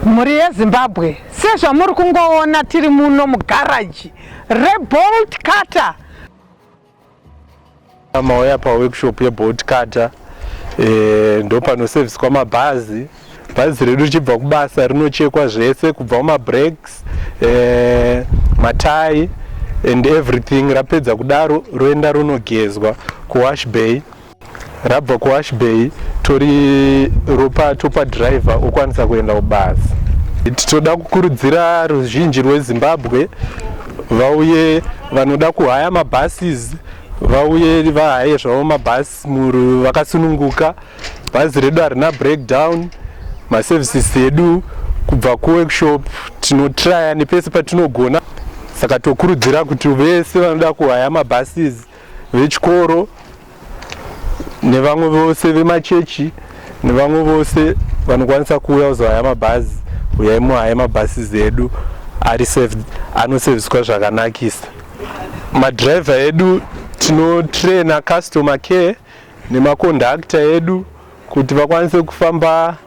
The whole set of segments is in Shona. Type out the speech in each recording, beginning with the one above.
Mhuri yeZimbabwe, sezvamuri kungoona tiri muno mugaraji rebolt cutter. Mauya paworkshop yebolt cutter e, eh, ndopanoseviswa mabhazi bhazi redu richibva kubasa rinochekwa zvese kubva kumabreaks e, eh, matai and everything rapedza kudaro roenda ronogezwa kuwash bay rabva kuash bay tori ropa topa driver okwanisa kuenda kubasa titoda kukurudzira ruzhinji rwezimbabwe vauye vanoda kuhaya mabuses vauye vahaye zvavo mabhasi muru vakasununguka bhazi redu harina breakdown maservices edu kubva kuworkshop tinotraya nepese patinogona saka tokurudzira kuti vese vanoda kuhaya mabuses vechikoro nevamwe vose vemachechi nevamwe vose vanokwanisa kuuya kuzohaya mabhazi uyai muhaya mabhasi zedu ari saved anoseviswa zvakanakisa madriver edu tinotraina customer care nemacondactor edu kuti vakwanise kufamba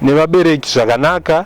nevabereki zvakanaka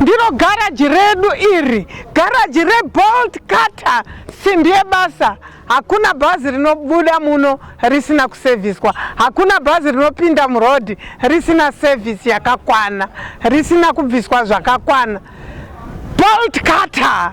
ndiro garaji redu iri garaji rebolt cutter simbi yebasa hakuna bhazi rinobuda muno risina kusevhiswa hakuna bhazi rinopinda murodhi risina sevhisi yakakwana risina kubviswa zvakakwana bolt cutter